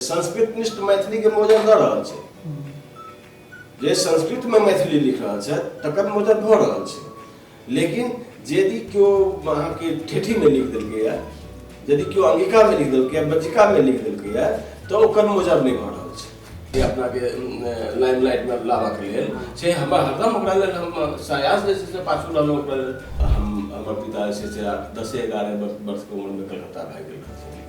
संस्कृत निष्ठ मैथिली के मोजर दऽ रहल छै जे संस्कृत में मैथिली लिख रहल छै तकर मोजर भऽ रहल छै लेकिन यदि केओ अहाँके ठेठी में लिख देलकै या यदि केओ अंगिका में लिख देलकै या बज्जिका में लिख देलकै या तऽ ओकर मोजर नहि भऽ रहल छै जे अपनाके लाइमलाइट में लाबक लेल से हमरा हरदम ओकरा लेल हम सायास जे छै से पाछू रहलहुँ ओकरा लेल हम हमर पिता जे छै से आठ दसे एगारह वर्ष वर्षके उम्रमे कलकत्ता भागि गेल रहथिन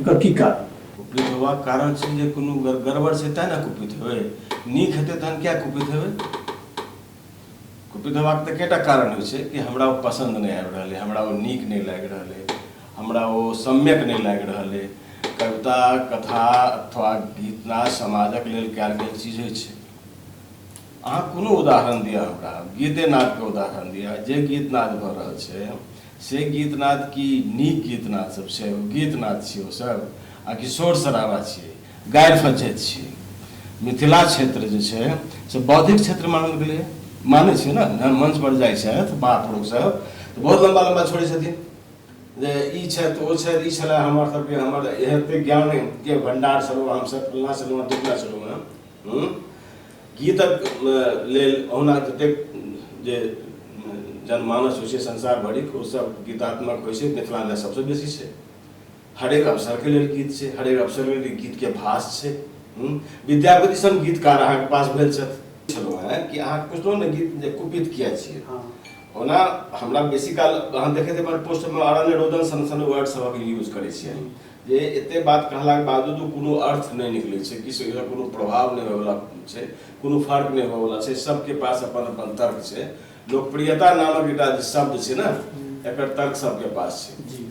एकर की कारण कुपित होबाक कारण छै जे कोनो गड़बड़ छै तैँ ने कुपित हेबै नीक हेतै तहन किया कुपित हेबै कुपित होबाक तऽ कएटा कारण होइ छै कि हमरा ओ पसन्द नहि आबि रहल अइ हमरा ओ नीक नहि लागि रहल अइ हमरा ओ सम्यक नहि लागि रहल अइ कविता कथा अथवा गीतना समाजक लेल कयल गेल चीज होइ छै अहाँ कोनो उदाहरण दिअ हमरा गीते नादके उदाहरण दिअ जे गीत नाद भऽ रहल छै से गीतनाद की नीक गीतनाद सब छै ओ गीतनाद छियै ओ सब आ कि शोर शराबा छियै गारि फज्झति छियै मिथिला क्षेत्र जे छै से बौद्धिक क्षेत्र मानल गेलैए मानै छै ने जहन मंच पर जाइ छथि महापुरुष सब तऽ बहुत लम्बा लम्बा छोड़ै छथिन जे ई छथि ओ छथि ई छलै हमर सबके हमर एहन ज्ञानके भण्डार छलहुँ हमसब फल्लाँ छलहुँ ढिकलाँ छलहुँ हँ गीतक लेल ओहना जतेक जे जनमानस होइ छै संसार भरिक ओ सब गीतात्मक होइ छै मिथिलामे सबसँ बेसी छै हरेक अवसरके लेल गीत छै हरेक अवसर लेल गीतके भाष छै विद्यापति सन गीतकार अहाँके पास भेल छथि छलहुँ हेँ कि अहाँ पुछलहुँ ने गीत जे कुपित किया छियै हँ। ओना हमरा बेसी काल अहाँ देखैत एहिपर पोस्टमे अरण्य रोदन सन सन वर्ड सभक यूज करै छियै जे एते बात कहलाक बावजूदो कोनो अर्थ नहि निकलै छै किछु एकरा कोनो प्रभाव नहि होयवला छै कोनो फर्क नहि होयवला छै सबके पास अपन अपन तर्क छै लोकप्रियता नामक एकटा जे शब्द छै ने एकर तर्क सबके पास छै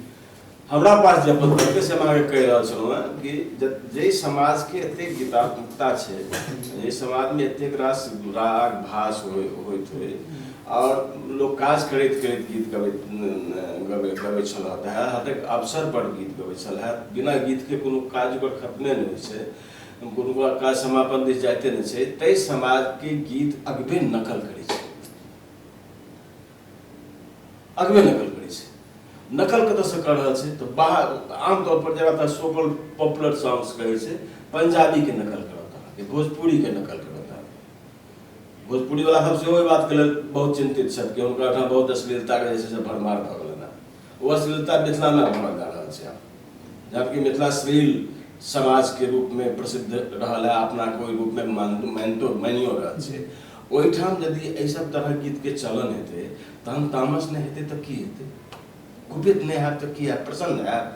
हमरा पास जे अपन तर्क से हम अहाँके कहि रहल छलहुँ हेँ कि जाहि समाजके एतेक गीतात्मकता छै जाहि समाजमे एतेक रास राग भास होइत होय आओर लोक काज करैत करैत गीत गबैत गबै गबै छलए दहा हाथक अवसर पर गीत गबै छलए बिना गीतके कोनो काज ओकर खतमे नहि होइ छै कोनो काज समापन दिस जाइते नहि छै ताहि समाजके गीत अगबे नकल करै छै अगबे नकल करै छै नकल कतऽसँ कऽ रहल छै तऽ बाहर आमतौर पर जेना तऽ सोकल पॉपुलर सॉन्ग्स कहै छै पंजाबीके नकल करत अहाँके भोजपुरीके नकल करत भोजपुरी वाला सब सेहो एहि बातके लेल बहुत चिन्तित छथि कि हुनका ओहिठाम बहुत अश्लीलताके जे छै से भरमार भऽ गेलनि हेँ ओ अश्लीलता मिथिलामे भरल जा रहल छै आब जबकि मिथिला श्लील समाजके रूपमे प्रसिद्ध रहल है अपनाके ओहि रूपमे मानितो मानियो रहल छै ओहिठाम यदि एहि सब तरहक गीतके चलन हेतै तहन तामस नहि हेतै तऽ की हेतै कुपित नहि हैब तऽ की हैब प्रसन्न हैब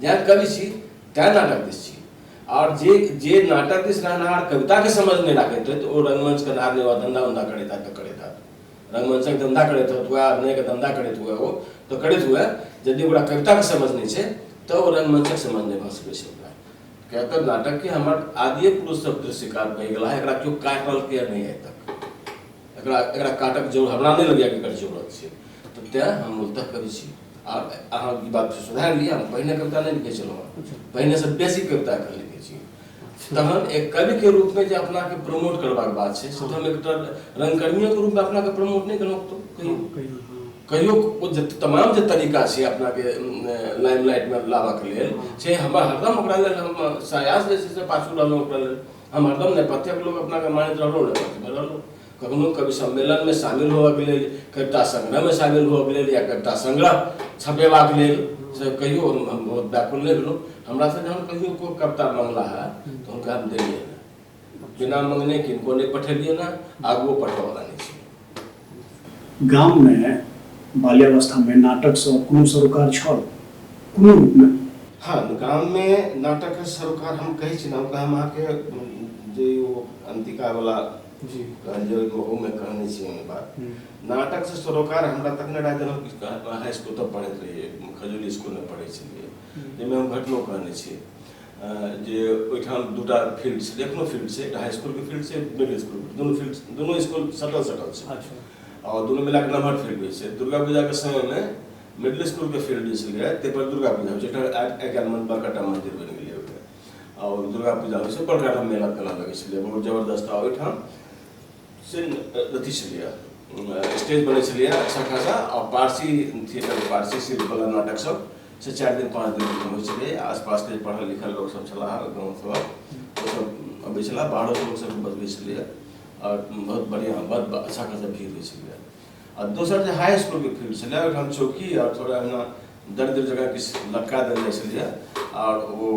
जेना कवि छी तैँ नाटक दिस छी आओर जे जे नाटक दिस रहनाहार कविताके समझमे राखैत होत ओ रंगमंच करनाहार नहि धंधा उन्धा करैत हैत तऽ करैत हैत रंगमंचक धंधा करैत होत हुए अभिनयके धंधा करैत हुए ओ तऽ करैत हुए यदि ओकरा कविताके समझ नहि छै तऽ ओ रंगमंचक समझ नहि भऽ सकैत छै ओकरा किया तऽ नाटकके हमर आदिए पुरुषसभ दृश्यकार बहि गेला एकरा केओ काटलकैए नहि आइ तक एकरा एकरा काटक जरूर हमरा नहि लगैए कि एकर जरूरत छै तऽ तैँ हम मूलतः कवि छी आ अहाँ ई बात सुधार लिअ हम पहिने कविता नहि लिखै छलहुँ हँ पहिनेसँ बेसी कविता एखन लिखै छी तहन एक कविके रूपमे जे अपनाके प्रमोट करबाक बात छै से तऽ हम एकटा रङ्गकर्मियोके रूपमे अपनाके प्रमोट नहि केलहुँ तऽ कहियो कहियो हँ। कहियो ओ जे तमाम जे तरीका छै अपनाके लाइमलाइटमे लाबऽके लेल से हमरा हरदम ओकरा लेल हम सायास जे छै से पाछू रहलहुँ ओकरा लेल हम हरदम नेपथ्यक लोक अपनाके मानैत रहलहुँ नेपथ्यमे रहलहुँ कखनो कवि सम्मेलनमे शामिल होबऽके लेल कविता संग्रहमे शामिल होबऽके लेल या कविता संग्रह छपेबाक लेल से कहियो हम बहुत व्याकुल नहि भेलहुँ हमरा से जहन कहियो कोइ कविता मंगला है तऽ हुनका हम देलियै बिना मंगने किनको नहि पठेलियै ने आगुओ पठबऽवला नहि छै गाम मे बाल्यावस्था मे नाटक स कोनो सरोकार छल? कोनो रूप मे? हँ, गाम मे नाटक क सरोकार हम कहै छी न हम अहाँ के जे ओ अंतिका बला कहल जे ओहू मे कहने छी हम ई बात। नाटक स सरोकार हमरा तखने रहै जखन हम हाई स्कूल तक पढ़ैत रहियै। खजूरी स्कूल मे पढ़ै छलियै। जै मे हम घटनो कहने छी। जे ओहिठाम दूटा फील्ड छै एखनो फील्ड छै एकटा हाई स्कूलके फील्ड छै मिडिल स्कूल दुनू फील्ड दुनू स्कूल सटल सटल छै अच्छा। आओर दुनू मिलाके नमहर फील्ड होइ छै दुर्गा पूजाके समयमे मिडिल स्कूलके फील्ड जे छलै ताहिपर दुर्गा पूजा होइ छै एकटा आइ काल्हि मन बड़का मन्दिर बनि गेलै ओहिमे आओर दुर्गा पूजा होइ छै बड़का टा मेला तेला लगै छलै बहुत जबरदस्त आओर ओहिठाम से अथी छलैए स्टेज बनै छलैए अच्छा खासा आओर पारसी थिएटर पारसी शिल्पकला नाटकसब से चारि दिन पाँच दिन होइ छलै आसपासके पढ़ल लिखल लोकसभ छलाह गाँव सभक ओसभ अबै छलाह बाहरो लोकसभ बतबै छलैए आओर बहुत बढ़िआँ बहुत अच्छा खासा भीड़ होइ छलैए आ दोसर जे हाई इसकुलके फील्ड छलै ओहिठाम चौकी आओर थोड़ा एहिना दरिद्र जगह किछु लटका देल जाइ छलैए आओर ओ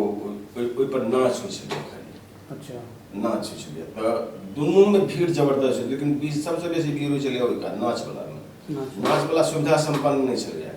ओहिपर नाच होइ छलै अच्छा नाच होइ छलैए तऽ दुनूमे भीड़ जबरदस्त छै लेकिन बीच सभसँ बेसी भीड़ होइ छलै ओहिका नाचवलामे नाचवला सुविधा सम्पन्न नहि छलैए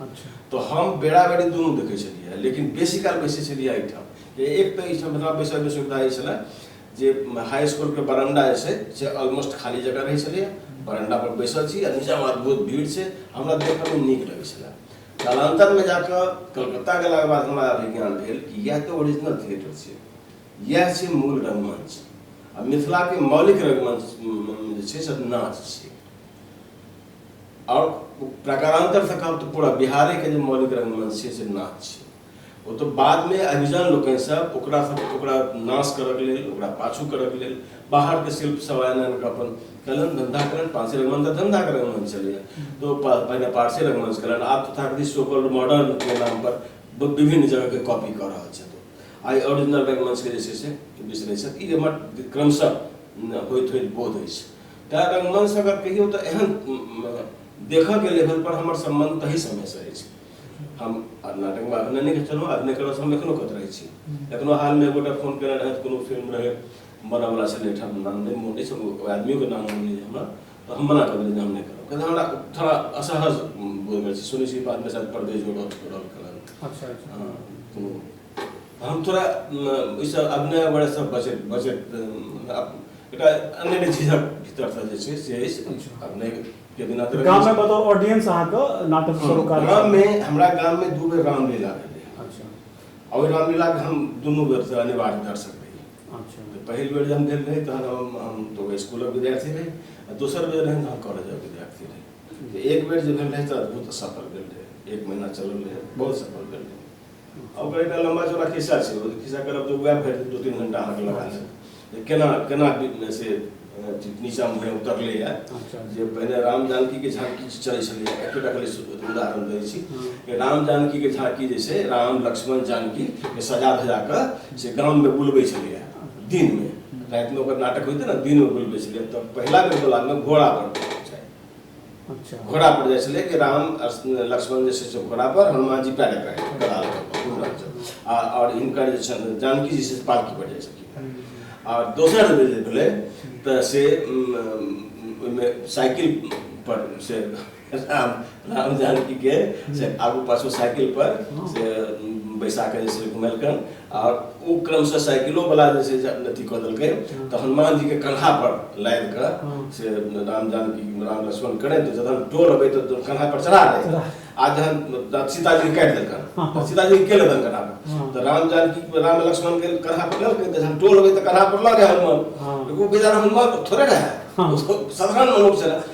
अच्छा तो हम बेड़ा बेड़ी दुनू देखै छलियै लेकिन बेसी काल बैसै छलियै एहिठाम जे एक तऽ एहिठाम मतलब बैसैमे सुविधा ई छलै जे हाई स्कूलके बरंडा जे छै से ऑलमोस्ट खाली जगह रहै छलैए बरंडापर बैसल छी आ नीचाँमे अद्भुत भीड़ छै हमरा देखऽमे नीक लगै छलै कालान्तरमे जा कऽ कलकत्ता गेलाके बाद हमरा विज्ञान भेल कि इएह तऽ ओरिजिनल थिएटर छै इएह छै मूल रंगमंच आ मिथिलाके मौलिक रंगमंच जे छै से नाच छै आओर प्रकारान्तर से कहब तऽ पूरा बिहारेके जे मौलिक रंगमंच छै से नाच छै ओ तऽ बादमे अभिजन लोकनि सब ओकरा सब ओकरा नाश करऽके लेल ओकरा पाछू करऽके लेल बाहरके शिल्प सब आनि आनि कऽ अपन कलन धंधा कलन पारसी रंगमंच तऽ धंधाके रंगमंच छलैए तऽ ओ पा- पहिने पारसी रंगमंच कलन आब तऽ ताकि सोकल मॉडर्न के नाम पर ब- विभिन्न जगहके कॉपी कऽ रहल छथि ओ। आइ ओरिजिनल रंगमंचके जे छै से बिसरै छथि ई हमर क्रमशः होइत होइत बोध अछि ताहि पर मन से अगर कहियो तो एहन देख के लेवल पर हमर सम्बन्ध तही समय से अछि हम नाटक में अभिनय नहीं चलो अभिनय करो हम एखनो कत रहे छी हम्म। एखनो हाल में गोटा फोन केने रहे कोनो फिल्म रहे बना वाला छले ठाम नाम नहीं मोटे से आदमी के नाम होने हमरा तो हम मना कर देलिए हम नहीं करो कहते हमरा थोड़ा असहज बोल गए सुनी सी बात में शायद परदेश जोड़ो जोड़ो कलर अच्छा अच्छा हाँ, तो हम थोड़ा ओहिसँ अभिनय वगैरहसँ बचैत बचैत एकटा अन्य नहि चीजक भीतरसँ जे छै से अछि अभिनयके बिना तऽ गाममे बताउ ऑडियंस अहाँके नाटक शुरू कर गाममे हमरा गाममे दू बेर रामलीला भेलै अच्छा आओर ओहि रामलीलाके हम दुनू बेरसँ अनिवार्य दर्शक रही अच्छा तऽ पहिल बेर जहन भेल रहै तहन हम हम तऽ स्कूलक विद्यार्थी रही आ दोसर बेर रहै हम कॉलेजक विद्यार्थी रही एक बेर जे भेल रहै तऽ अद्भुत सफल भेल रहै एक महीना चलल रहै बहुत सफल भेल रहै हम कहै एकटा लम्बा चौड़ा खिस्सा छै ओ खिस्सा करब तऽ उएह भरि दू तीन घंटा अहाँके लगा लेब केना केना से नीचाँमे भरि उतरलैए अच्छा। जे पहिने राम जानकीके झाँकी जे चलै छलै एकेटा खाली उदाहरण दै छी हम्म। राम जानकीके झाँकी जे छै राम लक्ष्मण जानकीके सजा धजा कऽ से गाममे बुलबै छलैए दिनमे रातिमे ओकर नाटक होइते ने दिनमे बुलबै छलैए तऽ पहिला बेर बोलामे घोड़ा पर अच्छा घोड़ा पर जाइ छलै कि राम आओर लक्ष्मण जे छै से घोड़ा पर हनुमान जी पैरे पैरे गदा लऽ कऽ घुमि रहल छथि आ आओर हिनकर जे छनि जानकी जी से पालकी पर जाइ छलखिन आओर दोसर जे जे भेलै तऽ से उम, उम, ओहिमे साइकिल पर से राम राम जानकीके से आगू पाछू साइकिल पर से उम, बैसा कऽ जे छै घुमेलकनि आ ओ क्रमशः साइकिलो वाला जे छै से अथी कऽ देलकै तऽ हनुमान जी के कन्हा पर लादि कऽ से राम जानकी राम लक्ष्मण करै तऽ जखन डोर अबै तऽ डोर कन्हा पर चढ़ा दै आ जखन रा- सीताजी के काटि देलकन तऽ सीताजी के लेलन कन्हा पर तऽ राम जानकी राम लक्ष्मण के कन्हा पर लेलकै तऽ जखन डोर अबै तऽ कन्हा पर लऽ गए हनुमान हाँ। लेकिन ओ बेचारा हनुमान थोड़े रहै हाँ। साधारण मनुष्य रहै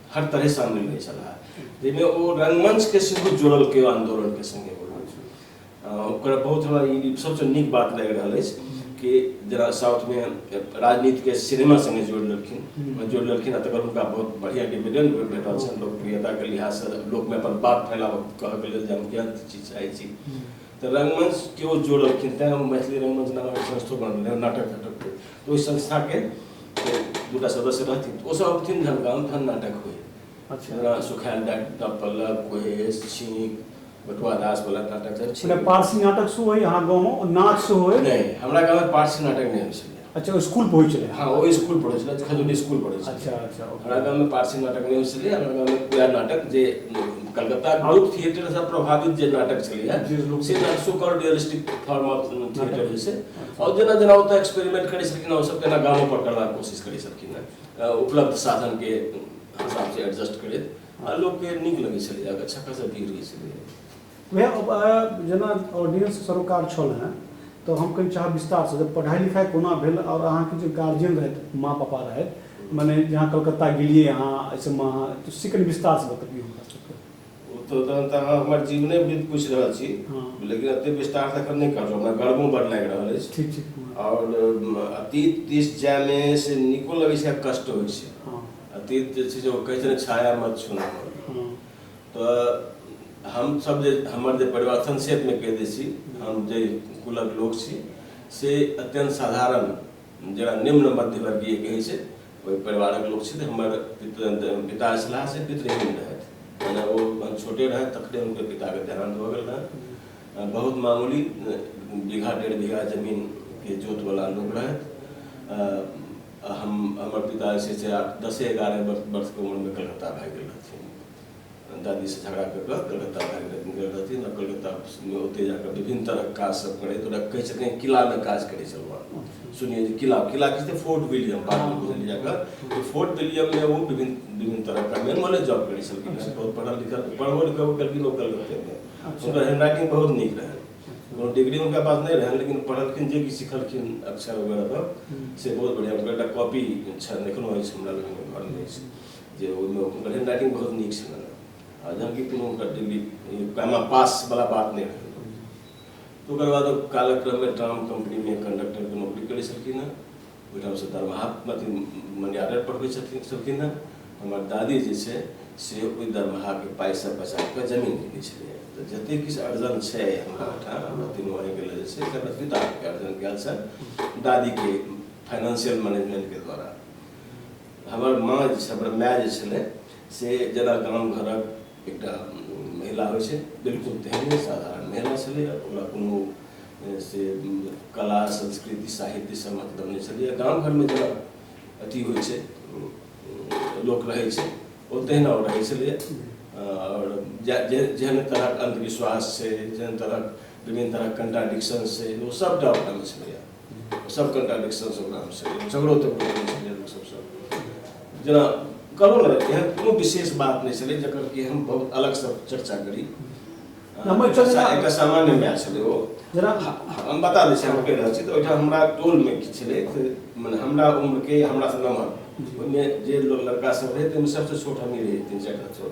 हर तरह से शामिल रहे छला जाहिमे ओ रंगमंच के सेहो जोड़ल के आंदोलन के संगे ओकरा बहुत हमरा ई सबसँ नीक बात लागि रहल अछि कि जेना साउथमे राजनीतिके सिनेमा सङ्गे जोड़ि लेलखिन जोड़ि लेलखिन आ तकर हुनका बहुत बढ़िआँ डिविजन भेटल छनि लोकप्रियताके लिहाजसँ लोकमे अपन बात फैलाबऽ कहऽके लेल जे हम केहन चीज चाहै छी तऽ रंगमंच केओ जोड़लखिन तैँ हम मैथिली रंगमंच नामक संस्थो बनल नाटक नाटकके तऽ ओहि संस्थाके दूटा सदस्य रहथिन तऽ ओसभ अबथिन जहन गाम तहन नाटक होइ अच्छा। जेना सुखायल डाक्टर पल्लव कोहेश छीक बटुआ दास वाला नाटक सब छै पारसी नाटक सेहो होइए अहाँ गाँवमे नाच सेहो होइए नहि हमरा गाँवमे पारसी नाटक नहि होइ छलै अच्छा ओ स्कूल पढ़ै छलै हाँ ओ स्कूल पढ़ै छलै खजूरी स्कूल पढ़ै छलै अच्छा अच्छा ओके। हमरा गाँव में पारसी नाटक नहीं होइ छलै हमरा गाँव में पूरा नाटक जे कलकत्ता ग्रुप थिएटर से प्रभावित जे नाटक छलै है जी, लोक- से नाटक so called realistic form of theatre जे छै और जेना जेना ओतऽ एक्सपेरिमेंट करै छलखिन हैं, ओ सब केना गामो पर करबाक कोशिश करै छलखिन हैं। अ, उपलब्ध साधन के हिसाब से एडजस्ट करैत आ लोक के नीक लगै छलै अच्छा खासा भीड़ होइ छलै वएह अब जेना ऑडियंस सरोकार छल हँ तऽ हम कनि चाहब विस्तारसँ जे पढ़ाइ लिखाइ कोना भेल आओर अहाँके जे गार्जियन रहथि माँ पापा रहथि मने जे अहाँ कलकत्ता गेलियै अहाँ एहिसभमे अहाँ तऽ से कनि विस्तारसँ बतबियौ हमरा सबके ओ तऽ तहन तऽ अहाँ हमर जीवने वृत्त पूछि रहल छी हँ। लेकिन एते विस्तार तखन नहि करब हमरा गर्वो बड़ लागि रहल अछि ठीक छै हँ। आओर अम, अतीत दिस जायमे से नीको लगै छै आ कष्टो होइ छै हँ अतीत जे छै से ओ कहै छै ने छाया मत छूना हँ तऽ हम सब जे हमर जे परिवार संक्षेप में कह दै छी हम जे कुलक लोक छी से अत्यंत साधारण जरा निम्न मध्य वर्गीय कहै छै ओहि परिवारक लोक छी तऽ हमर पिता छलाह से पितृहीन रहथि जेना ओ छोटे रहथि तखने हुनकर पिताके देहान्त भऽ गेल रहनि बहुत मामूली बीघा डेढ़ बीघा जमीनके जोतवला लोक रहथि हम हमर पिता जे छै से दसे एगारह वर्षके उम्रमे कलकत्ता भागि गेल रहथिन दादीसँ झगड़ा कऽ कऽ कलकत्ता भागि रहथिन गेल रहथिन आ कलकत्तामे ओतहि जा कऽ विभिन्न तरहक काजसभ करैत ओकरा कहै छथिन किलामे काज करै छलहुँ सुनिए जे किला किला की छै फोर्ट विलियम बादमे बुझलियै जा कऽ तऽ फोर्ट विलियममे ओ विभिन्न विभिन्न तरहक मेन माने जॉब करै छलखिन हेँ बहुत पढ़ल लिखल पढ़बो लिखबो केलखिन ओ कलकत्तेमे हुनकर हैंड राइटिंग बहुत नीक रहनि कोनो डिग्री हुनका पास नहि रहनि लेकिन पढ़लखिन जे किछु सिखलखिन अक्षर वगैरह से बहुत बढ़िआँ हुनकर एकटा कॉपी छनि एखनो अछि हमरा लगमे घरमे अछि जे ओहिमे हुनकर हेड राइटिंग बहुत नीक छलनि जबकि कोनो हुनकर दिल्ली पैमा पास वाला बात नहि रहै तो ओकर बाद कालक्रम में ट्राम कंपनी में कंडक्टर के नौकरी करे छलखिन हँ ओहिठाम से दरमाहा मर्यादा पढ़बै छलखिन हँ हमर दादी जे छै से ओहि दरमाहाके पाइसँ बचा कऽ जमीन किनै छलै तऽ जतेक किछु अर्जन छै हमरा ओहिठाम हमरा तीनू भाइके लेल जे छै एकर पिताके अर्जन कयल छनि दादीके फाइनेंशियल मैनेजमेंटके द्वारा हमर माँ जे छै हमर माय जे छलै से जेना गाम घरक एकटा महिला होइ छै बिल्कुल तेहने साधारण महिला छलै ओकरा कोनो से कला संस्कृति साहित्य से मतलब नहि छलै गाम घरमे जेना अथी होइ छै लोक रहै छै ओ तहिना ओ रहै छलै आओर जेहन तरहक अन्धविश्वास छै जेहन तरहक विभिन्न तरहक कन्ट्राडिक्शन छै ओ सभटा ओकरामे छलैए सब कन्ट्राडिक्सन सब रहल छै झगड़ो तऽ भऽ गेल छलै लोक सबसँ जेना कहलहुँ ने एहन कोनो विशेष बात नहि छलै जकर कि हम बहुत अलगसँ चर्चा करी हमर चर्चा एकटा सामान्य मैच छलै ओ जेना हम बता दै छी हम कहि रहल छी तऽ ओहिठाम हमरा टोलमे किछु छलै तऽ मने हमरा उम्रके हमरासँ नमहर ओहिमे जे लोक लड़का सब रहै ताहिमे सबसँ छोट हमही रही तीन चारिटा छोट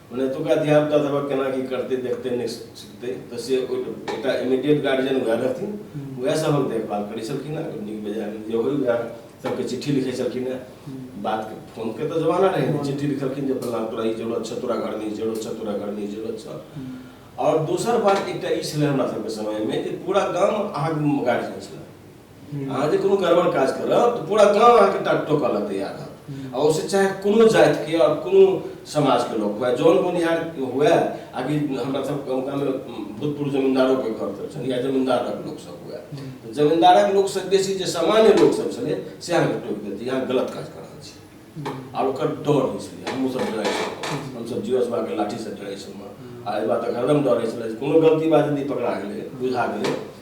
मने एतुका धियापुता सब केना की करते देखते नहि सीखते तऽ से एकटा इमीडिएट गार्जियन वएह रहथिन वएह सब हम देखभाल करै छलखिन हँ नीक बेजाय जे होइ वएह सबके चिट्ठी लिखै छलखिन हँ बात फोनके तऽ जमाना रहै चिट्ठी लिखलखिन जे फल्लाँ तोरा ई जरूरत छौ तोरा घरमे ई जरूरत छौ तोरा घरमे ई जरूरत छौ आओर दोसर बात एकटा ई छलै हमरा सबके समयमे जे पूरा गाम अहाँके गार्जियन छलै अहाँ जे कोनो गड़बड़ काज करब तऽ पूरा गाँव अहाँके टाट टोकऽ लए तैयार रहत आ ओहिसँ चाहे कोनो जातिके आओर कोनो समाजके लोक हुए जौन बोनिहार हुए आ कि हमरा सब गाँवमे भूतपूर्व जमींदारोके घर सब छनि या जमींदारक लोकसभ हुए तऽ जमींदारक लोकसँ बेसी जे सामान्य लोकसभ छलै से अहाँके टोकि देत जे अहाँ गलत काज कऽ रहल छी आओर ओकर डर होइ छलै हमहूँसभ डरै छलहुँ हमसभ जीवस बाके लाठीसँ डरै छलहुँ आ एहि बातक हरदम डर होइ छलै जे कोनो गलती बात यदि पकड़ा गेलै बुझा गेलै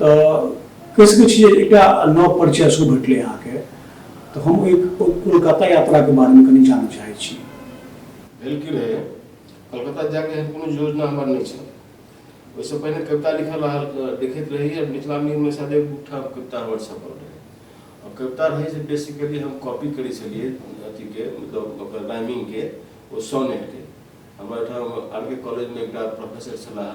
तऽ कहि सकैत छी जे एकटा नव परिचय सेहो भेटलै अहाँके तऽ हम ओहि कोलकाता यात्राके बारेमे कनि जानय चाहैत छी भेल की रहै कलकत्ता जायके एहन कोनो योजना हमर नहि छल ओहिसँ पहिने कविता लिखल रहल लिखैत रही आ मिथिला मिलमे शायद एक दूटा कविता हमर छपल रहै आओर कविता रहै जे बेसिकली हम कॉपी करै छलियै अथीके मतलब ओकर राइमिंगके ओ सोनेटके हमर ओहिठाम आर के कॉलेजमे एकटा प्रोफेसर छलाह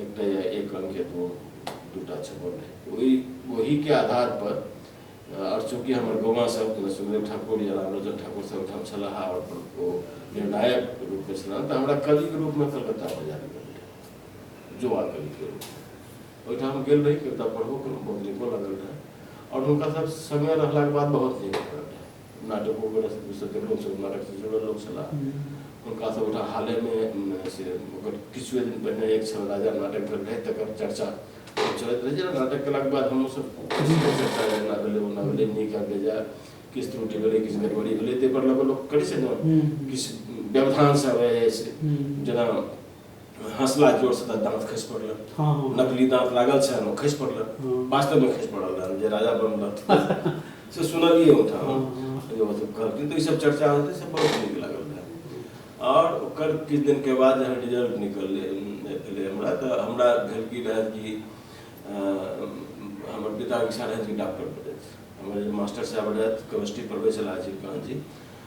एक टा या एक अंक या दू दूटा छपल रहै ओहि ओहिके आधार पर आओर चूँकि हमर गौवा सब सुखदेव ठाकुर या रामलोचन ठाकुर सब ओहिठाम छलाह आओर ओ निर्णायक रूपमे छलाह तऽ हमरा कविके रूपमे कलकत्ता बजा देलकै जुआ कविके रूपमे ओहिठाम गेल रही कविता पढ़बो केलहुँ बहुत नीको लागल रहए आओर हुनका सब सङ्गे रहलाके बाद बहुत नीक लागल रहए नाटको के रस दूसर के लोग सब नाटक से जुड़ल लोग छला हुनका सब उठा हाले में से ओकर किछुए दिन पहले एक छल राजा नाटक भेल रहे तकर चर्चा चलत रहे जे नाटक केला के बाद हम सब चर्चा रहे ना भेले ना भेले नीक आ बेजा किस त्रुटि भेले किस गड़बड़ी भेले ते पर लोग लोग करी से ना किस व्यवधान से आवे जाय से जना हंसला जोर से तऽ दांत खसि पड़ल हाँ हाँ नकली दांत लागल छै ओहिमे खसि पड़ल हाँ। वास्तव में खसि पड़ल रहन जे राजा बनल रहथिन से सुनलियै ओहिठाम हाँ, हाँ। जे ओ सब कहलखिन तऽ ई सब चर्चा होते से बहुत नीक लागल रहए आओर ओकर किछु दिन के बाद जहन रिजल्ट निकललै भेलै हमरा तऽ हमरा भेल की रहए कि अ, हमर पिता इच्छा रहए कि डॉक्टर बनैत हमर जे मास्टर साहब रहथि केमिस्ट्री पढ़बै छलाह अजीत कांत जी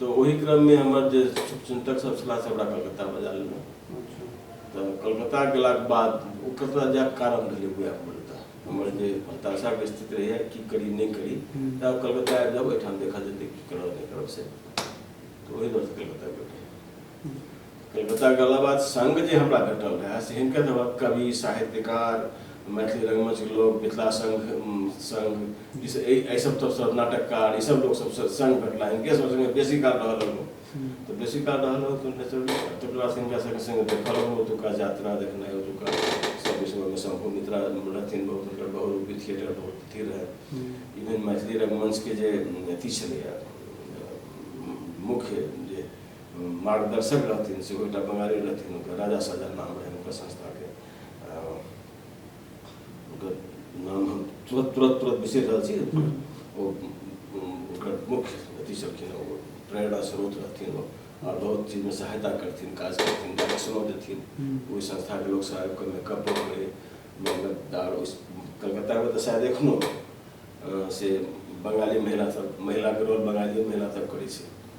तऽ ओहि क्रममे हमर जे शुभचिन्तक सब छलाह से हमरा कलकत्ता बजा लेलहुँ तऽ कलकत्ता गेलाके बाद ओ कलकत्ता जायके कारण रहलै उएह मूलतः हमर जे हताशाके स्थिति रहैए की करी नहि करी तऽ कलकत्ता आबि जाउ एहिठाम देखल जेतै की करब नहि करब से तऽ ओहि दुआरे कलकत्ता गेल रही दोसर गला बात संग जे हमरा भेटल रहए से हिनकर सभक कवि साहित्यकार मैथिली रंगमंच लोक मिथिला संघ संघ एहि सब तरफसँ नाटककार ईसभ लोक सबसँ संग भेटला हिनके सब संगे बेसी काल रहल रहू तऽ बेसी काल रहल रहू तऽ नेचुरली तकर बाद हिनका सबके संगे देखल रहू ओतुका यात्रा देखनाइ ओतुका सब विषयमे शंभु मित्रा रहथिन बहुत हुनकर बहुरूपी थिएटर बहुत अथी रहै इवन मैथिली रंगमंचके जे अथी छलैए मुख्य मार्गदर्शक रहथिन सेहो एकटा बंगाली रहथिन हुनकर राजा सजन नाम रहनि हुनकर संस्थाके हुनकर नाम हम तुरत तुरत तुरत बिसरि रहल छी ओ हुनकर मुख्य अथी छलखिन ओ प्रेरणा स्रोत रहथिन ओ आओर बहुत चीजमे सहायता करथिन काज करथिन डायरेक्शनो देथिन ओहि संस्थाके लोक सब आबि कऽ मेकअप करै मेहनत आर ओहि कलकत्तामे तऽ शायद एखनो से बंगाली महिला सब महिलाके रोल बंगाली महिला सब करै छै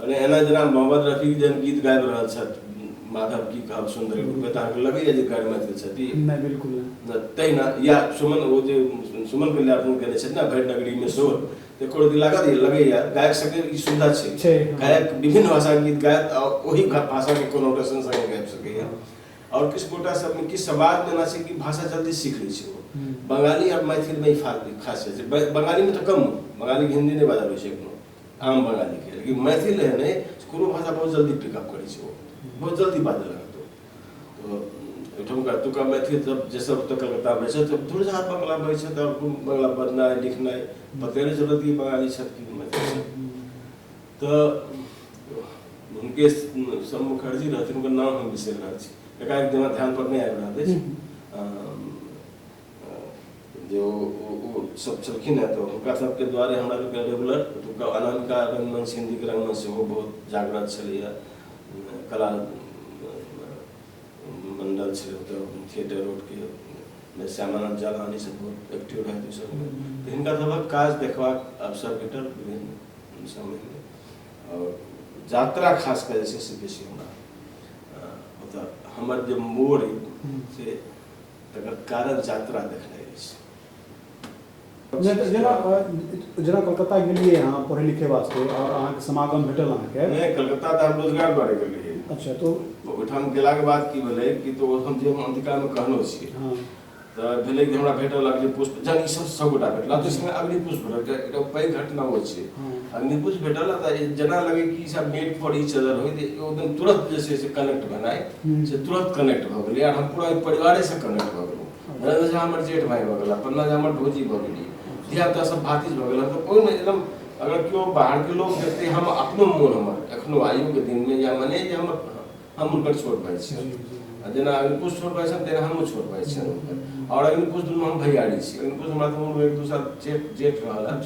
मने एना जेना मोहम्मद रफी जेहन गीत गाबि रहल छथि माधव की कहब सुंदर रूपे तऽ अहाँके लगैया जे गाड़ी मैथिल छथि नहि बिल्कुल नहि तहिना या सुमन ओ जे सुमन के ल्यापन केने छथि ने भरि नगरी में शोर तऽ कोनो दिन लागत लगैया गायक सबके ई सुविधा छै छै, हँ। गायक विभिन्न भाषा के गीत गायत आ ओहि भा- भाषा के कोनो टसन संगे गाबि सकैया और किछु गोटा सब में किछु समाज में एना छै कि भाषा जल्दी सीख लै छै ओ हम्म। बंगाली और मैथिल में ई फा- खासियत छै ब- बंगाली में तऽ कम बंगाली के हिंदी नहि बाजल होइ छै एखनो आम बंगाली के लेकिन मैथिल है ने कोनो भाषा बहुत जल्दी पिकअप करै छै बहुत जल्दी बाजऽ लागत तो ओहिठामका एतुका मैथिल सब जे सब तऽ कलकत्तामे छथि तऽ दूर जहाँ बंगला बजै छथि आओर बंगला बजनाइ लिखनाइ पते नहि चलत कि बंगाली छथि कि मैथिल छथि तऽ हुनके सब मुखर्जी रहथिन हुनकर नाम हम बिसरि रहल छी एकाएक दिमाग ध्यान पर नहि आबि रहल अछि जे ओ सब छलखिन हँ तऽ हुनका सबके द्वारे हमरा सबके रेगुलर ओतुका अनामिका रंगमंच हिन्दीके रंगमंच सेहो बहुत जागृत छलैए कला मंडल छलै ओतऽ थिएटर रोडके श्यामानंद जालानी सब बहुत एक्टिव रहै ओहि सबमे तऽ हिनका सबक काज देखबाक अवसर भेटल विभिन्न समयमे आओर यात्रा खास कऽ जे छै से बेसी हमरा ओतऽ हमर जे मोड़ अइ से तकर कारक यात्रा देखने अछि जेना जेना कलकत्ता गेलिए अहाँ पढ़े लिखे वास्ते और अहाँ के समागम भेटल अहाँ के नहीं कलकत्ता त हम रोजगार द्वारे गेलिए अच्छा तो ओठाम गेला के बाद की भेले कि तो हम जे हम अंतिका में कहनो छी हां त भेले कि हमरा भेटल अग्नि पुष्प जन ई सब सब गोटा भेटला तो इसमें अग्नि पुष्प भेटल के एटा पै घटना हो छै हाँ। अग्नि पुष्प भेटल त जना लगे कि सब मेड फॉर ईच अदर होय एकदम तुरंत जैसे से कनेक्ट बनाए से तुरंत कनेक्ट भऽ गेलै आर हम पूरा ओहि परिवारेसँ कनेक्ट भऽ गेलहुँ नरेंद्र झा हमर जेठ भाय भऽ गेला पन्ना झा हमर भौजी भऽ गेली धियापुता सब भातिज भऽ गेला तऽ ओहिमे एकदम अगर केओ बाहरके लोक देखतै हम अपनो मोन हमर एखनो आइयोके दिनमे या मने जे हम हम हुनकर छोट भाय छियनि आ जेना अंकुश छोट भाय छनि तेना हमहूँ छोट भाय छियनि हुनकर आओर अंकुश दुनू हम भैयारी छी अंकुश हमरा तऽ उम्रमे एक दू साल जेठ जेठ रहल हँ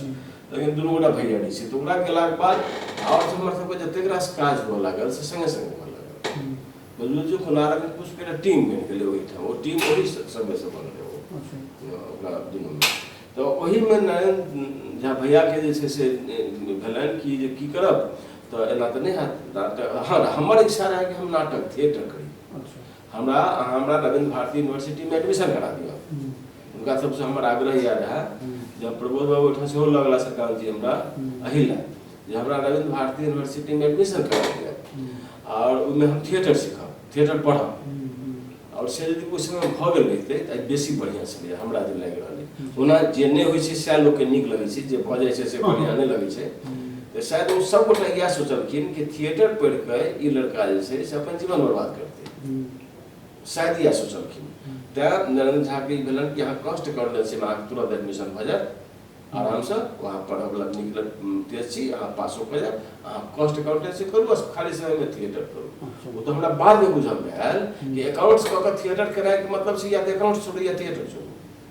लेकिन दुनू गोटा भैयारी छै तऽ ओकरा गेलाके बाद आओर हमर सबके जतेक रास काज हुअ लागल से सङ्गे सङ्गे हुअ लागल बुझलहुँ जे कोनारक पुष्पके एकटा टीम बनि गेलै ओहिठाम ओ टीम ओहि सङ्गेसँ बनलै ओ ओकरा दुनूमे तऽ ओहिमे नारायण झा भैयाके जे छै से भेलनि कि जे की करब तऽ एना तऽ नहि हैत नाटक हँ हमर इच्छा रहै कि हम नाटक थिएटर करी हमरा अहाँ हमरा रविंद्र भारती यूनिवर्सिटीमे एडमिशन करा दिअ हुनका सबसँ हमर आग्रह इएह रहए जे हम प्रबोध बाबू ओहिठाम सेहो लऽ गेला सरकार जी हमरा एहि लए जे हमरा रविंद्र भारती यूनिवर्सिटीमे एडमिशन करा दिअ आओर ओहिमे हम थिएटर सीखब थिएटर पढ़ब आओर से यदि ओहि समय भऽ गेल रहितै तऽ आइ बेसी बढ़िआँ छलै हमरा जे लागि रहलै ओना जे नहि होइ छै सएह लोकके नीक लगै छै जे भऽ जाइ छै से बढ़िआँ नहि लगै छै तऽ शायद ओ सब गोटा इएह सोचलखिन कि थिएटर पढ़ि कऽ ई लड़का जे छै से अपन जीवन बर्बाद करतै शायद इएह सोचलखिन तैँ नरेंद्र झाके ई भेलनि कि अहाँ कष्ट कर लै छी अहाँके तुरंत एडमिशन भऽ जायत आरामसँ अहाँ पढ़यवला नीक तेज छी अहाँ पासो कऽ जायब अहाँ कष्ट कर लै छी करू बस खाली समयमे थिएटर करू ओ तऽ हमरा बादमे बुझलमे आयल कि एकाउंट्स कऽ कऽ थिएटर करायके मतलब छै या तऽ एकाउंट्स छोड़ू या थिएटर छोड़ू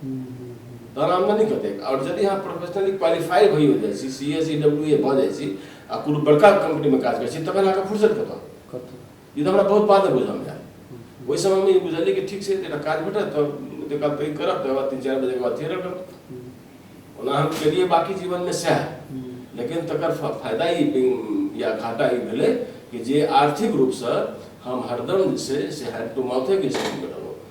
तहन आमदनी कतेक आओर यदि अहाँ प्रोफेशनली क्वालिफाई भइ हो जाइ छी C S E W A भऽ जाइ छी आ कोनो बड़का कम्पनीमे काज करै छी तखन अहाँके फुर्सत कतऽ ई तऽ हमरा बहुत बादे बुझल जाय ओहि समयमे ई बुझलियै कि ठीक छै एकटा काज भेटत तऽ ओतेक काल पैघ करब तकर बाद तीन चारि बजेके बाद चलि रहब ओना हम केलियै बाकी जीवनमे सएह लेकिन तकर फायदा ई या घाटा ई भेलै कि जे आर्थिक रूपसँ हम हरदम जे छै से हैंड टू माउथेके स्थितिमे रहलहुँ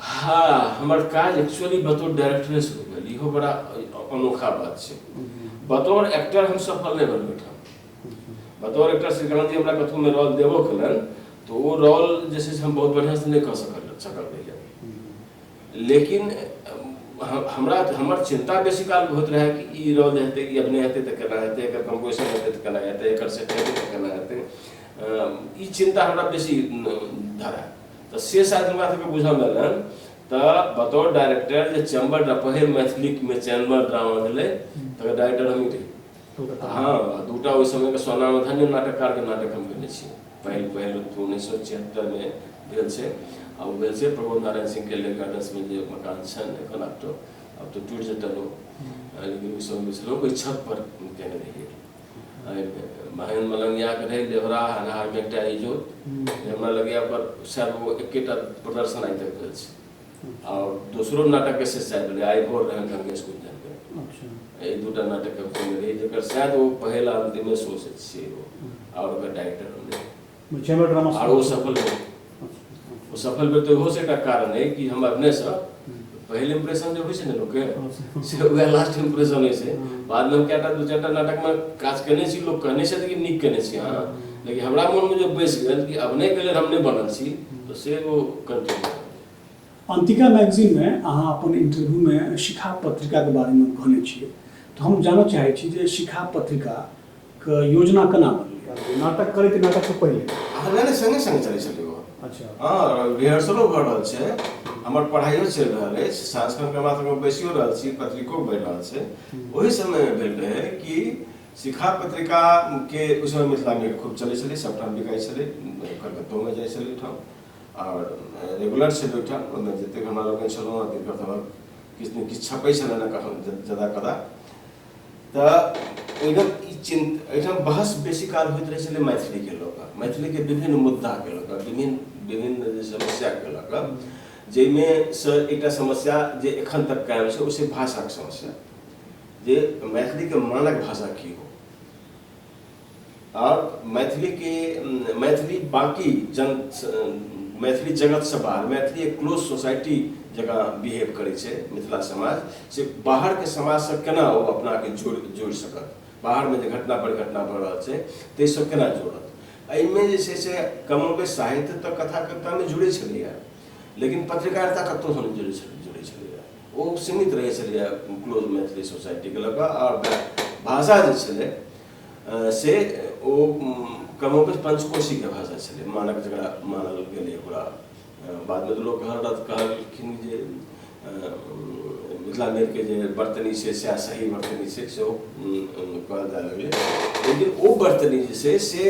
हाँ हमर काज एक्चुअली बतौर डायरेक्टरे शुरू भेल इहो बड़ा अनोखा बात छै बतौर एक्टर हम सफल नहि बनबै ठाम बतौर एक्टर श्रीकांत जी हमरा कतहु में रोल देबो केलन तो वो रोल जे छै हम बहुत बढ़िया से नहि कऽ सकल सकल रहियै लेकिन हमरा हमर चिंता बेसी काल होइत रहै कि ई रोल हेतै ई अभिनय हेतै तऽ केना हेतै एकर कंपोजिशन हेतै तऽ केना हेतै एकर सेट हेतै तऽ केना हेतै ई चिंता हमरा बेसी धरा तऽ से शायद हमरा सबके बुझल रहल हन तऽ बतौर डायरेक्टर जे चैम्बर ड्रा पहिल मैथिलीमे चैम्बर ड्रामा भेलै तकर डायरेक्टर हमही रही हँ दूटा ओहि समयके सोनामे धन्य नाटककारके नाटक हम केने छी पहिल पहिल उन्नैस सए छिहत्तरमे भेल छै आ ओ भेल छै प्रमोद नारायण सिंहके लेक गार्डन्समे जे मकान छनि एखन आब तऽ आब तऽ टूटि जेतनि ओ लेकिन ओहि समयमे छलै ओहि छतपर केने रहियै महेन्द्र मलंगियाक रहै देवरा हनहारमे एकटा इजोत जे हमरा लगैया पर शायद ओ एकेटा प्रदर्शन आइ तक भेल छै आओर दोसरो नाटकके से शायद भेलै आइ भोर रहै ढंग स्कूल जाके एहि दूटा नाटकके खोलने रही जेकर शायद ओ पहिल आ अंतिमे शो से छियै ओ आओर ओकर डायरेक्टर रहलै छेलो ड्रामा आर ओ सफल भेल ओ सफल भेल तऽ ओहोसँ एकटा कारण अइ कि हम अपनेसँ पहिल इम्प्रेशन जे होइ छै ने लोकके से उएह लास्ट इम्प्रेशन होइ छै बादमे हम कएटा दू चारि टा नाटकमे काज केने छी लोक कहने छथि कि नीक केने छी अहाँ लेकिन हमरा मोनमे जे बैसि गेल कि अभिनयके लेल हम नहि बनल छी तऽ से ओ कंटिन्यू अंतिका मैगजीन में अहाँ अपन इंटरव्यू में शिखा पत्रिका के बारे में कहने छियै तो हम जानना चाहे छी जे शिखा पत्रिका के योजना केना बनलै नाटक करै के नाटक से पहिले अहाँ रहने संगे संगे चलै छलै ओ अच्छा हँ रिहर्सलो भऽ रहल छै हमर पढ़ाइयो चलि रहल अछि सांस्कृतिक हमरा सबके बैसियो रहल छी पत्रिको बनि रहल छै ओहि समय मे भेल रहै कि शिखा पत्रिका के ओहि समय मिथिला मे खूब चलै छलै सबठाम बिकाइ छलै कलकत्तो मे जाइ छलै ठाम आओर रेगुलर छलै ओहिठाम ओहिमे जतेक हमरा लोकनि छलहुँ हँ तिनकर सबहक किछु ने किछु छपै छलनि हँ कखन जदा कदा तऽ एहिठाम ई चिन्त एहिठाम बहस बेसी काल होइत रहै छलै मैथिलीके लऽ कऽ मैथिलीके विभिन्न मुद्दाके लऽ कऽ विभिन्न विभिन्न जे समस्याके लऽ कऽ जाहिमे सँ एकटा समस्या जे एखन तक कायम छै ओ छै भाषाके समस्या जे मैथिलीके मानक भाषा की हो आओर मैथिलीके मैथिली बाँकी जन मैथिली जगतसँ बाहर मैथिली एक क्लोज सोसाइटी जकाँ बिहेव करै छै मिथिला समाज से बाहरके समाजसँ केना ओ अपनाके जोड़ि जोड़ि सकत बाहरमे जे घटना परिघटना भऽ रहल छै ताहिसँ केना जोड़त एहिमे जे छै से कमोबे साहित्य तऽ कथा कवितामे जुड़ै छलैए लेकिन पत्रकारिता कतहुसँ नहि जुड़ै छलै जुड़ै छलैए ओ सीमित रहै छलैए क्लोज मैथिली सोसाइटीके लऽ कऽ आओर भाषा जे छलै से ओ क्रमोपरि पंचकोशी के भाषा छलै मानक जकरा मानल गेलै ओकरा बादमे तऽ लोक कहल रहत कहलखिन जे मिथिला के जे बर्तनी छै सएह सही बर्तनी छै सेहो कहल जाय लगलै लेकिन ओ बर्तनी जे छै से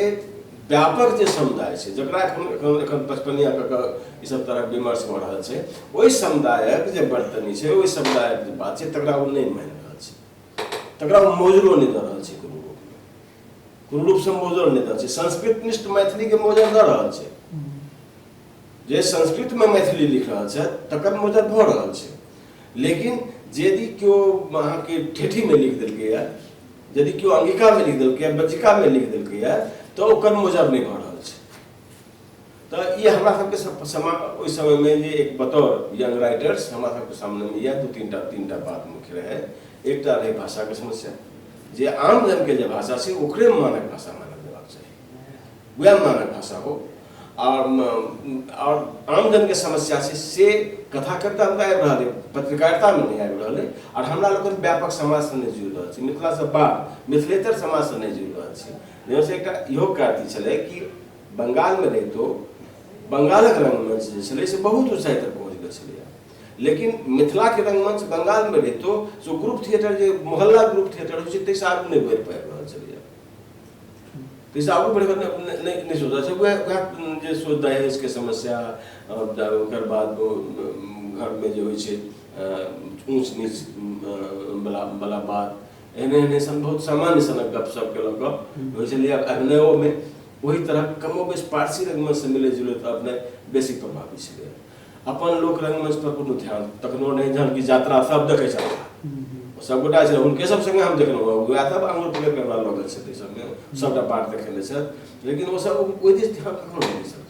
व्यापक जे समुदाय छै जकरा एखन एखन एखन पचपनिया कऽ कऽ ईसभ तरहक विमर्श भऽ रहल छै ओहि समुदायक जे बर्तनी छै ओहि समुदायक जे बात छै तकरा ओ नहि मानि रहल छै तकरा हम मोजरो नहि दऽ रहल छी कोनो रूपमे कोनो रूपसँ मोजर नहि दऽ रहल छी संस्कृत निष्ठ मैथिलीके मोजर दऽ रहल छै जे संस्कृतमे मैथिली लिख रहल छथि तकर मोजर भऽ रहल छै लेकिन यदि केओ अहाँके ठेठीमे लिख देलकैए यदि केओ अंगिकामे लिख देलकैए बज्जिकामे लिख देलकैए तऽ ओकर मोजर नहि भऽ रहल छै तऽ ई हमरा सबके सम- समा ओहि समय में जे एक बतौर यंग राइटर्स हमरा सबके सामने में यह दू तीन टा तीन टा बात मुख्य रहे एकटा रहे भाषा के समस्या जे आम जन के जे भाषा छै ओकरे मानक भाषा मानल जेबाक चाही वएह मानक भाषा हो और म- और आम जन के समस्या छै से कथाकर्ता में आबि रहल है पत्रकारिता में नहीं आबि रहल है और हमरा लोकन व्यापक समाज से नहीं जुड़ रहल छै मिथिला से बाहर मिथिलेतर समाज से नहीं जुड़ रहल छै जैसे एकटा इहो कारती छलै कि बंगालमे रहितो बंगालक रंगमंच जे छलै से बहुत ऊँचाइ तक पहुँच गेल छलैए लेकिन मिथिलाके रंगमंच बंगालमे रहितो से ग्रुप थिएटर जे मोहल्ला ग्रुप थिएटर होइ छै ताहिसँ आगू नहि बढ़ि पाबि रहल छलैए ताहिसँ आगू बढ़ि नहि सोचल छै वएह वएह जे सोच दहेजके समस्या ओकर बाद घरमे जे होइ छै ऊँच नीच बला बला बात एने एने सन बहुत सामान्य सनक गप सब के लग होइ छलै आब अभिनयो में वही तरह कमो बेस पारसी रंगमंच से मिले जुले तो अपने बेसी प्रभावी छलै अपन लोक रंगमंच पर कोनो ध्यान तखनो नहीं जहन की यात्रा सब देखे छल सबगोटा छल हुनके सब संगे हम देखलहुँ वएह सब आंगुर पकड़ के हमरा लगल छथि संगे सबटा बात देखेने छथि लेकिन ओ सब ओहि दिस ध्यान कखनो नहि छल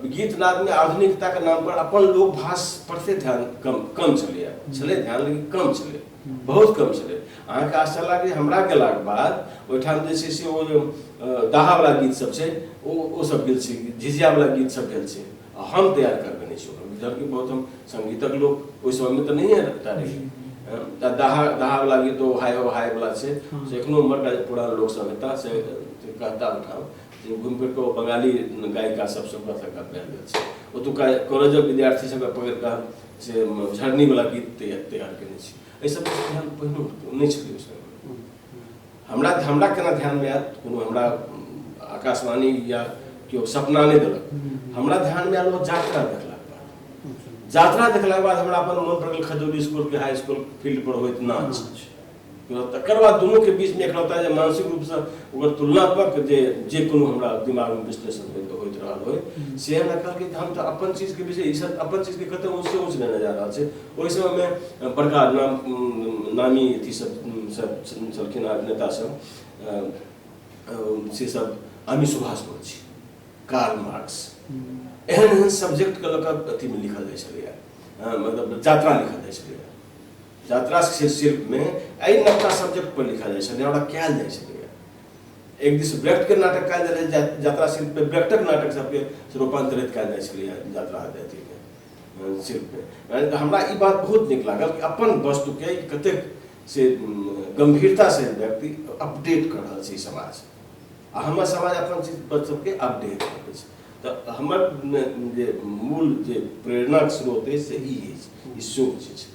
गीत नाद में आधुनिकता के नाम पर अपन लोक भाष पर से ध्यान कम कम चले चले ध्यान लेकिन कम चले बहुत कम चले अहाँ के आशा लागे हमरा के लाग बाद ओठाम जे छै से ओ दाहा वाला गीत सब छै ओ ओ सब गेल छै झिझिया वाला गीत सब गेल छै हम तैयार करबे नहि छी जबकि बहुत हम संगीतक लोक ओहि समय में तो नहीं रहता रही दाहा दाहा वाला गीत ओ हाय हो हाय वाला छै से एखनो मर पूरा लोक सब एता से कहता उठाओ गुणपेटो बंगाली गायिका सब सबका तक पहल गेल छै ओतुका कॉलेजक विद्यार्थी सब पकड़ कऽ से झरनी वाला गीत तैयार तैयार केने छी एहि सब ध्यान पहिनो नहि छलै सर हमरा हमरा केना ध्यान में आयल कोनो हमरा आकाशवाणी या केओ सपना नहि देलक हमरा ध्यान में आयल ओ जात्रा देखलाक बाद जात्रा देखलाक बाद हमरा अपन मन पड़ल खजौली स्कूल के हाई स्कूल फील्ड पर होइत नाच तकर बाद दुनूके बीचमे एकलौता जे मानसिक रूपसँ ओकर तुलनात्मक जे जे कोनो हमरा दिमागमे विश्लेषण होइत होइत रहल होय से हमरा कहलकै जे हम तऽ अपन चीजके विषय ई सब अपन चीजके कतऽ ऊँचसँ ऊँच लेने जा रहल छै ओहि समयमे बड़का नाम नामी अथी सब छलखिन अभिनेता सब से सब अमी सुभाष मुखर्जी कार्ल मार्क्स एहन एहन सब्जेक्टके लऽ कऽ अथीमे लिखल जाइ छलैए मतलब जात्रा लिखल जाइ छलैए जात्रास से शिल्प में एहि नवका सब्जेक्ट पर लिखल जाइ छै ने ओकरा कयल जाइ छै एक दिस व्यक्त के नाटक कयल जाइ छै जात्रा शिल्प पे व्यक्तक नाटक सबके रूपांतरित कयल जाइ छलै जात्रा अथी के शिल्प पे तऽ हमरा ई बात बहुत नीक लागल कि अपन वस्तु के कतेक से गंभीरता से व्यक्ति अपडेट कर रहल छै समाज आ हमर समाज अपन चीज पर सबके अपडेट करै छै तऽ हमर जे मूल जे प्रेरणाक स्रोत अछि से ई अछि ई शोक जे छै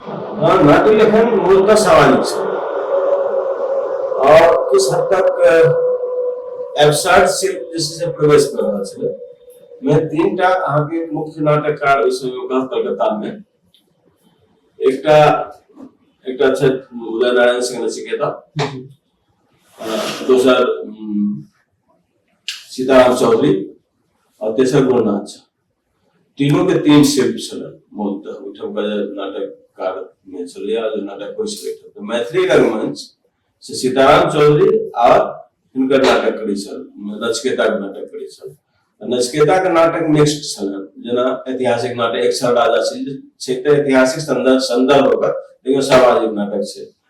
हँ नाट्य लेखन मूलतः सामाजिक छै और किस हद तक एब्सर्ड शिल्प जे छै से प्रवेश कर रहल छलै मे तीन टा अहाँके मुख्य नाटककार ओहि समय कहल कलकत्ता में एकटा एकटा छथि उदय नारायण सिंह नचिकेता दोसर सीताराम चौधरी और तेसर गुरुनाथ झा तीनों के तीन शिल्प छल मूलतः ओहिठाम का नाटक कार में छलै आ जे नाटक होइ छलै एहिठाम तऽ मैथिली रंगमंच से सीताराम चौधरी आ हिनकर नाटक करै छल नचकेताक नाटक करै छल नचकेताक नाटक मिक्स्ड छल जेना ऐतिहासिक नाटक एक छल राजा छै छै तऽ ऐतिहासिक संदर्भ संदर्भ ओकर लेकिन सामाजिक नाटक छै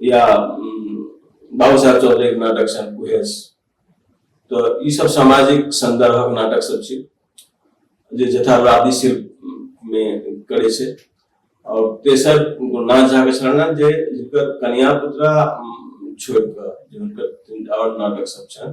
या बाबू साहब चौधरी के नाटक छनि कुहेस तऽ ई सब सामाजिक संदर्भक नाटक सब छै जे यथार्थवादी शिल्प मे करै छै और तेसर गुरुनाथ झा के शरण जे जिनकर कन्या पुत्रा छोड़ कऽ जिनकर और नाटक सब छनि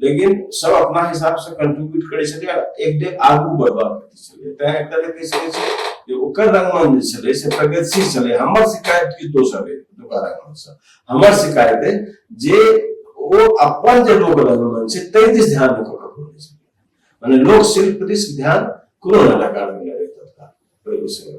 लेकिन सब अपना हिसाब से कंट्रीब्यूट करे छले एक डे आगू बढ़वा प्रति छले तै एक तरह के से छै जे ओकर रंगमन जे छले से प्रगतिशील छले हमर शिकायत की तो सब दुका रंगमन से हमर शिकायत है जे ओ अपन जे लोग रंगमन छै तै दिस ध्यान रखो कखनो नै छै माने लोक शिल्प दिस ध्यान कोनो ना लगा मिले तत्काल प्रभु से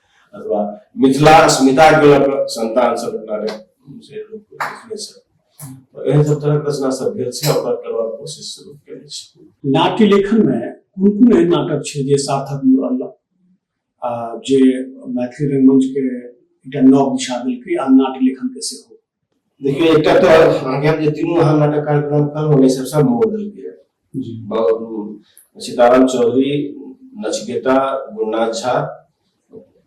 अथवा मिथिला अस्मिता के लऽ कऽ संतान सब अपना रे से लोक लिखने छथि तऽ एहन सब तरहक रचना सब भेल छै आ ओकरा करबाक कोशिश सेहो केने छी नाट्य लेखन मे कोन कोन एहन नाटक छै जे सार्थक मूल रहलक आ जे मैथिली रंगमंच के एकटा नव दिशा देलकै आ नाट्य लेखन के सेहो देखिए एक तो अहाँके हम जे तीनू अहाँ नाटक कार्यक्रम कहलहुँ ने सब सब मोड़ देलकै सीताराम चौधरी नचिकेता गुन्ना झा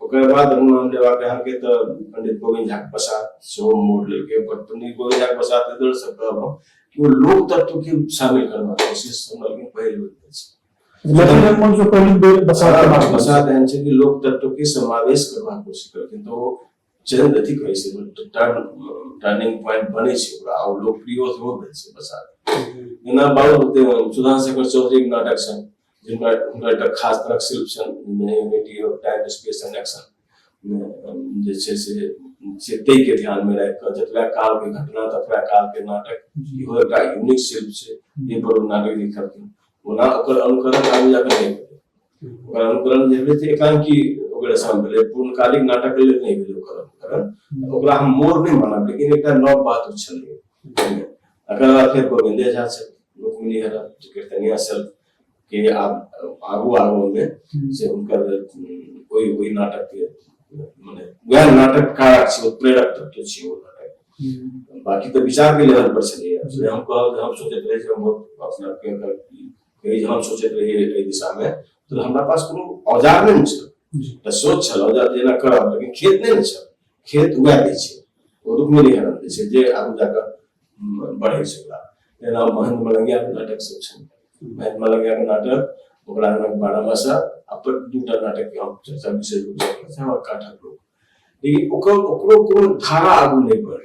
ओकर बाद हम नाम लेबाक अहाँके तऽ पंडित गोविंद झा प्रसाद सेहो मोड़ लेलकै पर पंडित गोविंद झा प्रसाद एहि दुआरे सब कहब हम कि ओ लोक तत्व के शामिल करबाक कोशिश हमरा लेकिन पहिल बेर भेल छै लेकिन रमन जो पहली बेर बसा प्रसाद एहन छै कि लोक तत्व के समावेश करबाक कोशिश करलखिन तऽ ओ चैनल अथी कहै छै टर्निंग पॉइंट बनै छै ओकरा आ लोकप्रिय सेहो भेल छै बसात जेना बाबू सुधान शेखर चौधरीके नाटक छनि जिनका हुनकर एकटा खास तरहक शिल्प छनि unity of time space and action जे छै से से ताहिके ध्यानमे राखि कऽ जतबा कालके घटना ततबा कालके नाटक इहो एकटा यूनिक शिल्प छै जाहिपर ओ नाटक लिखलखिन ओना ओकर अनुकरण आगू जाकऽ नहि ओकर अनुकरण जे भेलै से एकांकी ओकर रचना भेलै पूर्णकालिक नाटक लेल नहि भेलै ओकर अनुकरण ओकरा हम मोर नहि मानब लेकिन एकटा नव बात ओ छलै एकर बाद फेर गोविंदे झा छल रुक्मिणी हरा जे कीर्तनिया छल के आब आगू आगू मे से हुनकर ओहि ओहि नाटक के मने वएह नाटक कारक छै ओ प्रेरक तत्व छै ओ नाटक बाकी तऽ विचार के लेवल पर छलैए हम कहब हम सोचैत रही जे हम बहुत अपना के कहै जे हम सोचैत रही एहि दिशामे तऽ हमरा पास कोनो औजार नहि ने छल तऽ सोच छल औजार जेना करब लेकिन खेत नहि ने छल खेत उएह दै छै ओ रुकमे नहि हरम दै छै जे आगू जा कऽ बढ़ै छै ओकरा जेना महंत मलंगियाके नाटक सब छै महंत मलंगियाके नाटक ओकरा बारह मासा आ पर दू टा नाटक हम चर्चा विशेष रूपसँ काठक लोक लेकिन ओकर ओकरो कोनो धारा आगू नहि बढ़लै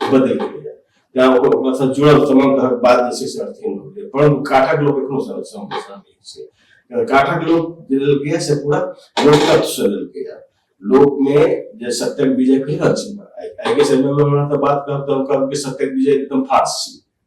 बदलि गेलैए तैँ ओकर ओकरासँ जुड़ल तमाम तरहक बात जे छै से अर्थहीन भऽ गेलै परन्तु काठक लोक एखनो सम- सम- समझै छै अ, काठक लोक जे लेलकैए से पूरा लोकतत्वसँ लेलकैए लोकमे जे सत्यक विजय कहि रहल छी ने, आइ आइके समयमे हमरा तऽ बात कहब तऽ हम कहब कि सत्यक विजय एकदम फास्ट छी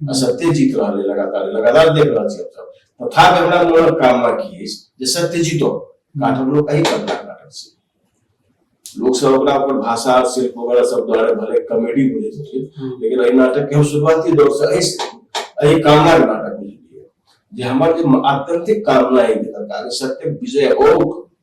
आ सत्य जीत रहल है लगातार लगातार देख रहल छी हमसब तथा के हमरा मोनक कामना की अछि जे सत्य जीतो काठक लोक एहि कविता काटक छै लोक सब ओकरा अपन भाषा और शिल्प वगैरह सब द्वारा भले कॉमेडी बुझे छथिन हम्म। लेकिन एहि नाटक के हम शुरुआती दौर से एहि से- एहि कामना के नाटक बुझलियै जे हमर जे आत्यंतिक कामना है भीतर का जे सत्य विजय हो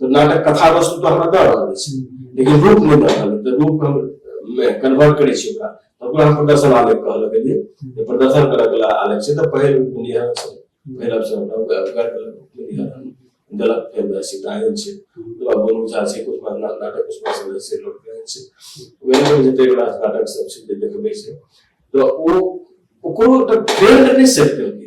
तो नाटक कथा वस्तु तो हमरा दऽ रहल अछि लेकिन रूप नहि दऽ रहल तऽ रूप हम मे कन्वर्ट करै छी ओकरा तऽ ओकरा हम प्रदर्शन आलेख कहल गेलियै जे प्रदर्शन करऽ के आलेख छै तऽ पहिल निहर छै पहिल अवसर गलत फेर वैसी गायन छै ओकरा बोलू जा छै कुछ बात नाटक कुछ बात से से लोग गायन छै वैसे जते बड़ा नाटक सब छै जे देखबै छै तऽ ओ ओकरो तऽ ट्रेंड नहि सेट करके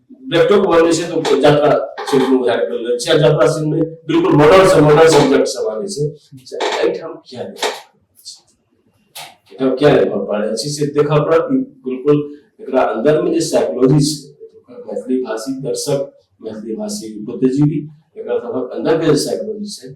लैपटॉप बने से तो जात्रा सिंह को उधार कर ले चाहे जात्रा सिंह में बिल्कुल मॉडल से मॉडल सब्जेक्ट सब आने से एट हम क्या ले एट हम क्या ले पा पाए अच्छी से देखा पड़ा कि बिल्कुल एकरा अंदर में जो साइकोलॉजी से मैथिली भाषी दर्शक मैथिली भाषी बुद्धिजीवी एकरा तहत अंदर के साइकोलॉजी से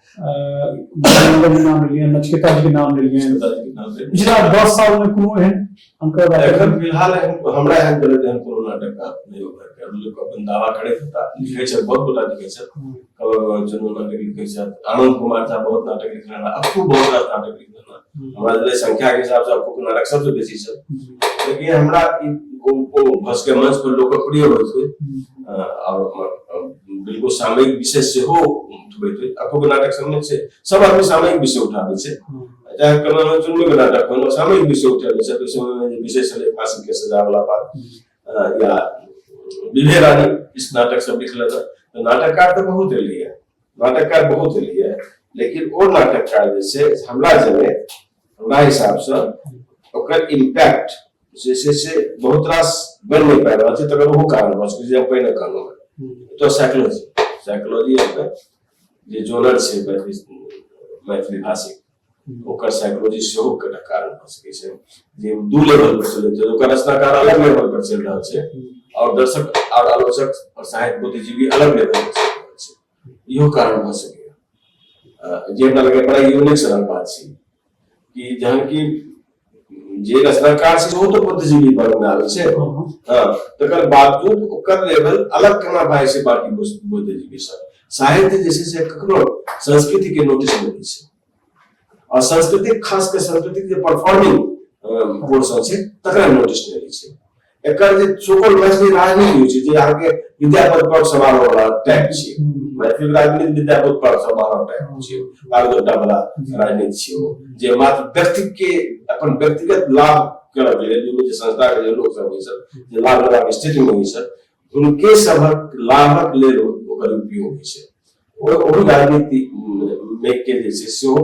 नगर के नाम लेलिए नचकेता जी के नाम लेलिए पिछला दस साल में कोनो एहन अंकर एखन फिलहाल हमरा एहन करे एहन कोनो नाटक का नहीं होकर के लोग अपन दावा करे था लिखे छै बहुत बड़ा लिखे छै कलर जनरल नाटक लिखे छै आनंद कुमार था बहुत नाटक लिखने अब तो बहुत नाटक लिखने हमरा जब संख्या के हिसाब से आपको कोना रख सब बेसी से लेकिन हमरा को को बस के मंच पर लोकप्रिय होय छै और बिल्कुल सामयिक विषय से हो उठबै छै आपको नाटक सब में से सब आदमी सामयिक विषय उठाबै छै चाहे कला में चुनने में नाटक कोनो सामयिक विषय उठाबै छै तो समय में विषय से ले फांसी के सजा वाला बात या विभेरानी इस नाटक सब लिखला तो नाटककार तो बहुत एलिया नाटककार बहुत भेलियै लेकिन ओ नाटककार जे छै हमरा जने हमरा हिसाबसँ ओकर इम्पैक्ट जे छै से बहुत रास बनि नहि पाबि रहल छै तकर ओहो कारण भऽ सकैत छै हम पहिने कहलहुँ हेँ तो साइकोलॉजी साइकोलॉजी अहाँके जे जोनर छै मैथिली मैथिली भाषिक ओकर साइकोलॉजी सेहो कटा कारण भऽ सकै छै जे दू लेवल पर चलै छै ओकर रचनाकार अलग लेवल पर चलि रहल छै और दर्शक और आलोचक और साहित्य बुद्धिजीवी अलग लेवल पर चलि रहल छै इहो कारण भऽ सकैए जे हमरा लगे बड़ा यूनिक सनक बात छै कि जहन कि जे रचना कार्य से बहुत बुद्धिजीवी वर्ग में आवे से हाँ, हाँ। हाँ, तकर बावजूद ओकर लेवल अलग केना भाई से बाकी बुद्धिजीवी सब साहित्य जैसे से ककरो संस्कृति के नोटिस में दी से और संस्कृति खास के संस्कृति के परफॉर्मिंग पोर्शन से तकरा नोटिस में दी से एकर जे सुपौल मैथिली राजनीति होइ छै जे अहाँके विद्यापति पर सवाल वाला टाइप छियै मैथिली राजनीति विद्यापति पर सवाल टाइप छियै बारह घंटा वाला राजनीति छियै ओ जे मात्र व्यक्ति के अपन व्यक्तिगत लाभ करब जे दुनू जे संस्था के जे लोक सब होइ छथि जे लाभ लेबाक स्थिति में होइ छथि हुनके सभक लाभक लेल ओकर उपयोग होइ छै ओहि राजनीति में के जे छै सेहो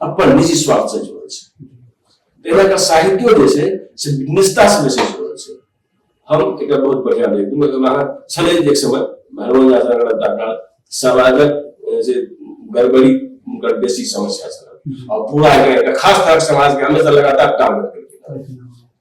अपन निजी स्वार्थ से जुड़ल छै एहिला साहित्यो जे छै से निष्ठा से बेसी जुड़ल छै हम एक बहुत बढ़िया लेख दूंगा तो वहां छले एक समय भरवन यात्रा का डाटा समाजक जे गड़बड़ी उनकर बेसी समस्या छल और पूरा एक खास तरह समाज के हमेशा लगातार टारगेट करके